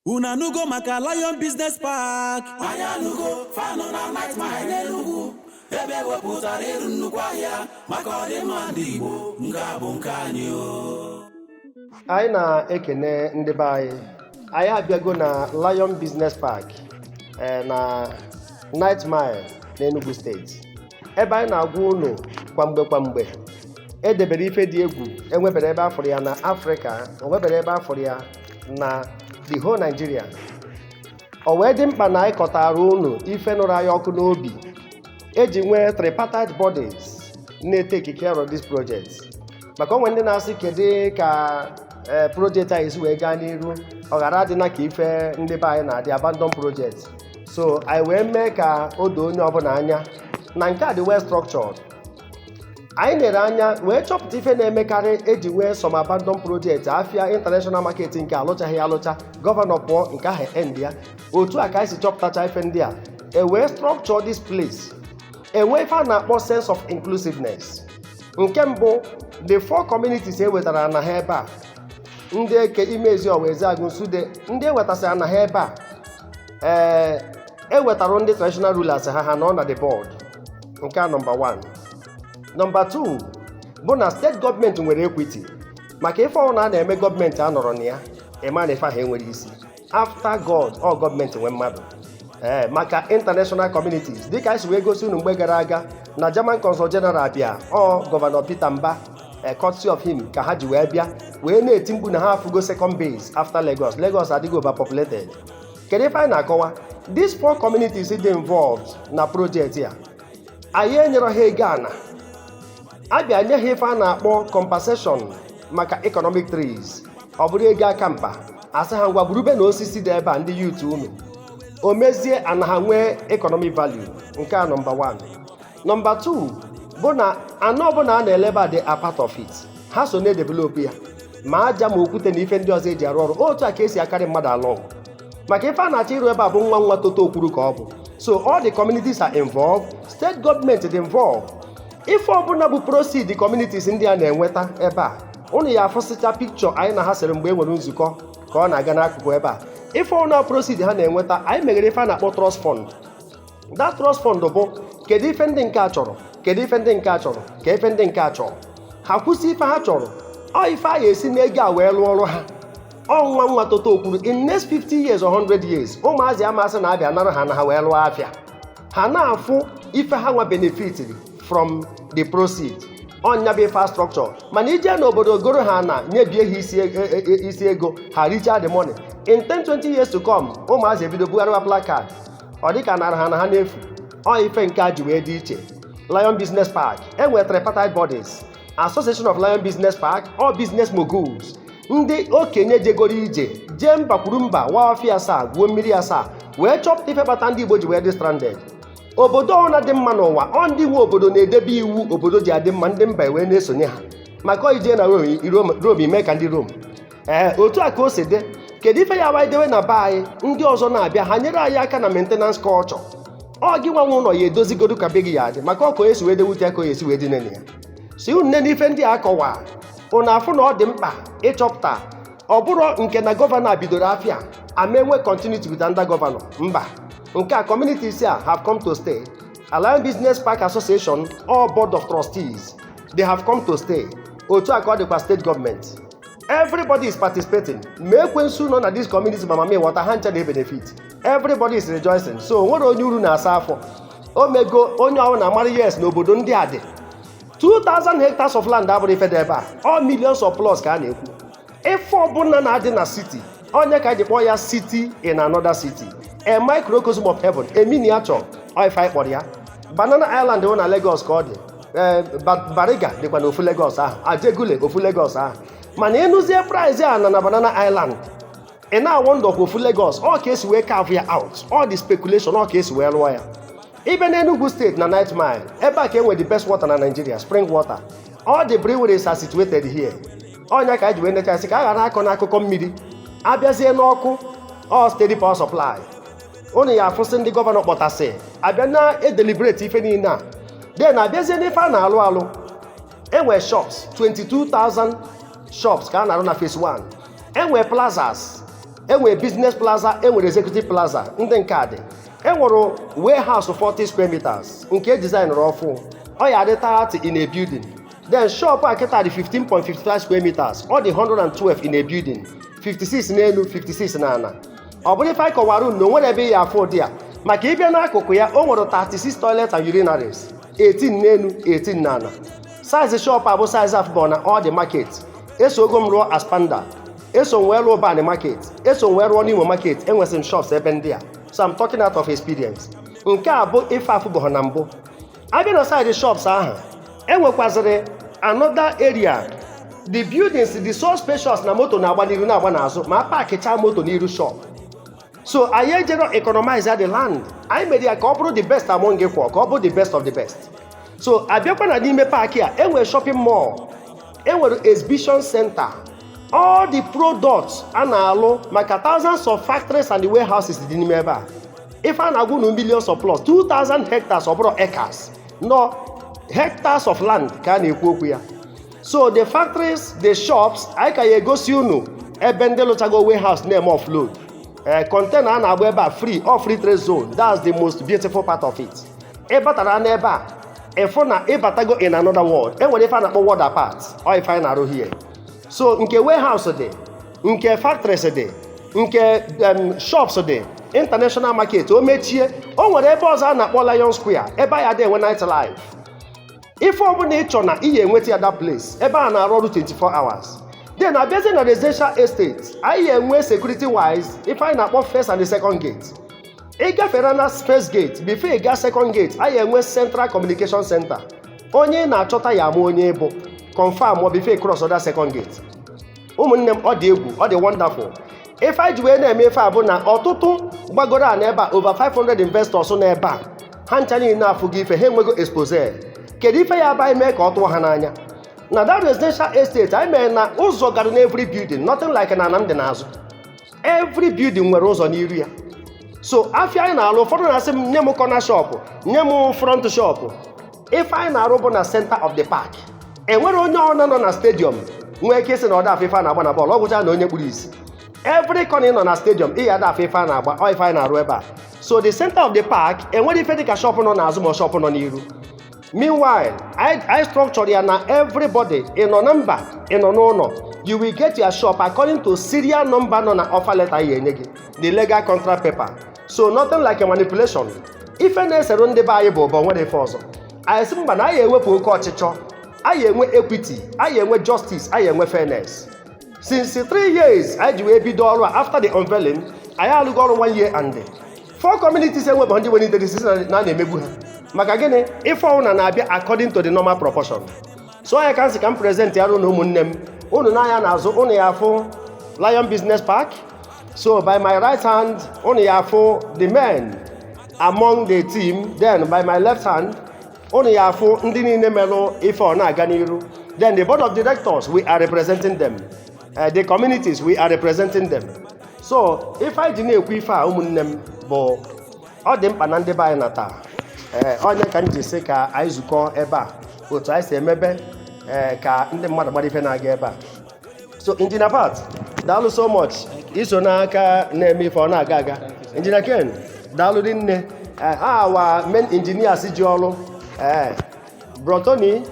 Unu anụgo maka Lion Business Park? Anyị anụgo fa nọ na Ninth Mile n'Enugwu ebe ewepụtara ịrụ nnukwu ahịa maka ọdịmma ndị Igbo nke a bụ nke anyị o. anyị na-ekene ndị be anyị anyị abịago na Lion Business Park eh, na Ninth Mile n'Enugu steeti ebe anyị na-agwa unu kwamgbe kwamgbe edebere ife dị egwu enweberọ ebe afụrụ ya na Afrịka enweberọ ebe afụrụ ya na the whole Nigeria o wee dị mkpa na anyị kọtara unu ife nụrụ anyị ọkụ n'obi eji nwee tripartite bodies na-etake care of this project maka o nwee ndị na-asị kedu ka ee projekti anyị si wee gaa n'iru ọ ghara adịna ka ife ndị be anyị na-adị abandon project so anyị wee mee ka o doo onye ọbụla anya na nke a dị well structured anyị nere anya wee chọpụta ife na-emekarị eji nwee some abandon project afia international market nke alụchaghị alụcha gọvanọ pụọ nke ahụ end ya otu a ka anyị si chọpụtacha ife ndị a e wee structure this place enwee ife a na-akpọ sense of inclusiveness nke mbụ the four communities e wetara ana ha ebe a ndị eke imezi ọwa ezeagụ nsude ndị ewetasịra ana ha ebe a ee ewetara ndị traditional rulers ha ha nọ na the board nke a nọmba 1 nọmba 2 bụ na steeti gọọmenti nwere ekwiti maka ife ọbụna a na-eme gọọmenti anọrọ na ya ịma na ife ahụ enwerọ isi after god ọ gọọmenti nwe mmadụ ee maka international communities dịka anyị si wee gosi unu mgbe gara aga na german consul general bịa ọ gọvanọ peter mbah courtesy of him ka ha ji wee bịa wee na-eti mkpu na ha afụgo second base after lagos lagos adịghị overpopulated kedu ife anyị na-akọwa these four communities dị involved na projekti a anyị enyerọ ha ego ana abịa nye ha ife a na-akpọ compensation maka economic trees ọ bụrọ ego a ka mkpa asị ha ngwa gburube na osisi dị ebe a ndị youth unu o mezie ana ha nwee economic value nke a nọmba 1 nọmba 2 bụ na ana ọbụla a na-ele ebe a dị a part of it ha so na-edevelop ya ma aja ma okwute na ife ndị ọzọ eji arụ ọrụ otu a ka esi a-carry mmadụ along maka ife a na-achọ ịrụ ebe a bụ nwa nwa toto okwuru ka ọ bụ so all the communities are involved state government is involved ife ọbụla bụ proceed communities ndị a na-enweta ebe a unu ya-afụsịcha pikchọ anyị na ha sere mgbe e nwere nzukọ ka ọ na-aga n'akụkụ ebe a ife ọbụla proceed ha na-enweta anyị meghere ife a na-akpọ trust fund that trust fund bụ kedu ife ndị nke a chọrọ kedu ife ndị nke a chọrọ ka ife ndị nke a chọrọ ha kwusị ife ha chọrọ ọ ife a ga-esi n'ego a wee lụọ ọrụ ha ọ nwa nwa toto kwuru in next 50 years or 100 years ụmụazị amasị na a bịa nara ha ana ha wee lụọ afịa ha na-afụ ife ha nwa benefitiri from the proceed ọ nya bụ infrastructure mana i jee n'obodo goro ha ana nyebie ha isi e- e- e- isi ego ha richa the money in 10 20 years to come ụmụazị ebido bugharịwa placard ọ dị ka nara ha ana ha n'efu ọ ife nke a ji wee dị iche Lion Business Park e nwere tripartite bodies Association of Lion Business Park all business moguls ndị okenye jegoro ije jee mba kwuru mba waa ọfịa asaa gwuo mmiri asaa wee chọpụta ife kpata ndị Igbo ji wee dị stranded obodo ọna dị mma n'ụwa ọ ndị nwe obodo na-edebe iwu obodo ji adị mma ndị mba wee na-esonye ha maka i jee na Rome i mee ka ndị Rome ee otu a ka o si dị kedu ife ya wanyị dewe na be anyị ndị ọzọ na-abịa ha nyere anyị aka na maintenance culture ọ gị nwa nwe ụnọ ya edozigodu ka be gị ya adị maka ọ ka o esi wee dewute ya ka o esi wee dị nene ya si unu nne n'ife ndị a kọwa unu afụ na ọ dị mkpa ịchọpụta ọ bụrụ nke na gọvanọ a bidoro afịa a ma-enwe continuity with another gọvanọ mba nke a communities here have come to stay Lion Business Park Association or Board of Trustees they have come to stay otu a ka ọ dịkwa state government everybody is participating ma ekwensu nọ na this community ma mammy water ha ncha na-ebenefit everybody is rejoicing so o nwere onye uru na-asa afọ o mego onye ọwụna amara yes na obodo ndị a dị 2000 hectares of land abụrụ ife dị ebe a all millions of plots ka a na-ekwu ife ọbụna na-adị na city ọ nya ka e ji kpọọ ya city in another city a microcosm of heaven a miniature ọ ife anyị kpọrọ ya Banana Island dị na Lagos ka ọ dị ee Bariga dịkwa na ofu Lagos ahụ Ajegunle ofu Lagos ahụ mana ị nụzie price ana na Banana Island ị na-awonder ọ kwa ofu Lagos ọ ka e si wee carve ya out all the speculation ọ ka e si wee lụọ ya ị bịa na Enugu State na Ninth Mile ebe a ka e nwe the best water na Nigeria spring water all the breweries are situated here ọ nya ka anyị ji wee nechasị ka a ghara akọ n'akụkọ mmiri a bịazie n'ọkụ ọ steady power supply unu ya afụsị ndị gọvanọ kpọtasị abịa na-edeliberate ife niile a then a bịazie n'ife a na-alụ alụ e nwe shops 22,000 shops ka a na-arụ na phase 1 e nwe plazas e nwe business plaza e nwere executive plaza ndị nke a dị e nwere warehouse 40 square meters nke e designịrị ọfụụ ọ ya adị 30 in a building then shop a kịta dị 15.55 square meters ọ dị 112 in a building 56 n'elu 56 n'ala ọ bụrụ ife anyị kọwara unu na o nwere ebe ị ya afụ ụdị ya maka ịbịa n'akụkụ ya o nwere 36 toilet and urinaries 18 n'elu 18 n'ala size shop a bụ size afụbọghọ na all the market esogo m rụọ ASPAMDA eso m wee rụọ Ubani market eso m wee rụọ n'Imo market enwesịrị m shops ebe ndị a so I'm talking out of experience nke a bụ ife afụbọghọ na mbụ abịa na side shops ahụ enwekwazịrị another area the buildings dị so spacious na moto na-agba n'iru na-agba n'azụ ma pakịchaa moto n'iru shop so anyị ejero economize the land anyị mere ya ka ọ bụrụ the best among equal ka ọ bụrụ the best of the best so abịakwa na n'ime park a enwere shopping mall enwere exhibition center all the products a na-alụ maka thousands of factories and warehouses dị n'ime ebe a ife a na-agwa unu millions of plus 2000 hectares ọ bụrọ acres na ọ hectares of land ka a na-ekwu okwu ya so the factories the shops anyị ka ya egosi unu ebe ndị lụchago warehouse na-eme offload ee container a na-agba ebe a free all free trade zone that's the most beautiful part of it ị batara n'ebe a ị fụ na ị batago in another world enwere ife a na-akpọ world apart ọ ife anyị na-arụ here so nke warehouse dị nke factories dị nke em, shops dị international market o mechie o nwere ebe ọzọ a na-akpọ Lion Square ebe a ya da enwe night life ife ọbụla ị chọ na ị ya enweta ya that place ebe a na-arụ ọrụ 24 hours then abịazie na residential estate anyị ya enwe security wise ife anyị na-akpọ first and second gate ị gafere na first gate before ị gaa second gate anyị ya enwe central communication center onye ị na-achọta ya ama onye ị bụ confirm ọ before ị cross ọ the second gate ụmụnne m ọ dị egwu ọ dị wonderful ife anyị ji wee na-eme ife a bụ na ọtụtụ gbagoro ana ebe a over 500 investors nọ ebe a ha ncha niine afụgo ife ha enwego expose kedu ife ya aba mee ka ọ tụọ ha n'anya na that residential estate anyị mere na ụzọ gara n'every building nothing like na ana m dị n'azụ every building nwere ụzọ n'iru ya so afịa anyị na-arụ ụfọdụ na-asị m nye m corner shop nye m front shop ife anyị na-arụ bụ na center of the park enwere onye ọna nọ na stadium nwee ike ịsị na ọ da afụ ife a na-agba na bọọlụ ọ gwụcha na onye kpuru isi every corner ị nọ na stadium ị ya da afụ ife a na-agba ọ ife anyị na-arụ ebe a so the center of the park enwere ife dịka shop nọ n'azụ ma ọ shop nọ n'iru meanwhile anyị structure ya na everybody ị nọ na mba ị nọ n'ụlọ you will get your shop according to serial number nọ na offer letter a ya enye gị the legal contract paper so nothing like a manipulation ife na-esere ndị be anyị bụ ụbọ nwere ife ọzọ anyị sị mba na anyị ewepụ oke ọchịchọ anyị enwe equity anyị enwe justice anyị enwe fairness since three years anyị ji wee bido ọrụ a after the unveiling anyị alụgo ọrụ one year and four communities eweba ndị nwere interest sị na na a na-emegbu ha maka gịnị ife ọ bụna na-abịa according to the normal proportion so ya ka m sị ka m present ya unu ụmụnne m unu nee anya n'azụ unu ya afụ lion business park so by my right hand unu ya afụ the men among the team then by my left hand unu ya afụ ndị niile merụ ife ọ na-aga n'iru then the board of directors we are representing them uh, the communities we are representing them so ife anyị ji na-ekwu ife a ụmụnne m bụ ọ dị mkpa na ndị be anyị nata ee ọ nya ka m ji sị ka anyị zukọ ebe a otu anyị si emebe ee ka ndị mmadụ mara ife na-aga ebe a so Engineer Pat daalụ so much i so n'aka na-eme ife ọ na-aga aga Engineer Ken daalụ rinne Eh, our main engineers ji ọrụ ee Bro Tony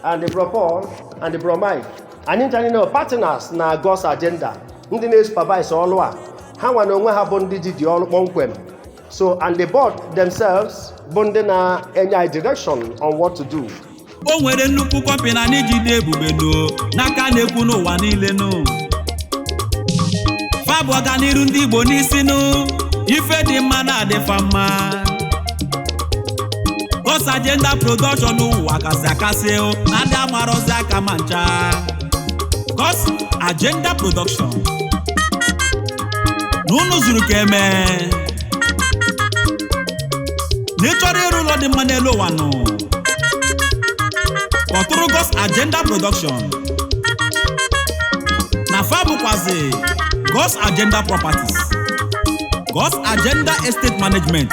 and Bro Paul and Bro Mike anyị ncha niile partners na God's agenda ndị na-supervise ọrụ a ha nwa na onwe ha bụ ndị ji dị ọrụ kpọmkwem so and the board themselves bụ ndị na-enye anyị direction on what to do o nwere nnukwu company anyị jide ebube no n'aka na-ekwu n'ụwa niile nụ fa bu ọganiru ndị igbo n'isi nụ ife dị mma na-adị fa mma God's Agenda Production ụwa kasị akasị o na ndị amarọzi aka ma ncha God's Agenda Production na unu zuru ka e mee na ị chọrọ ịrụ ụlọ dị mma n'elu ụwa nụ kpọtụrụ God's Agenda Production na fa bụkwazi God's Agenda Properties God's Agenda Estate Management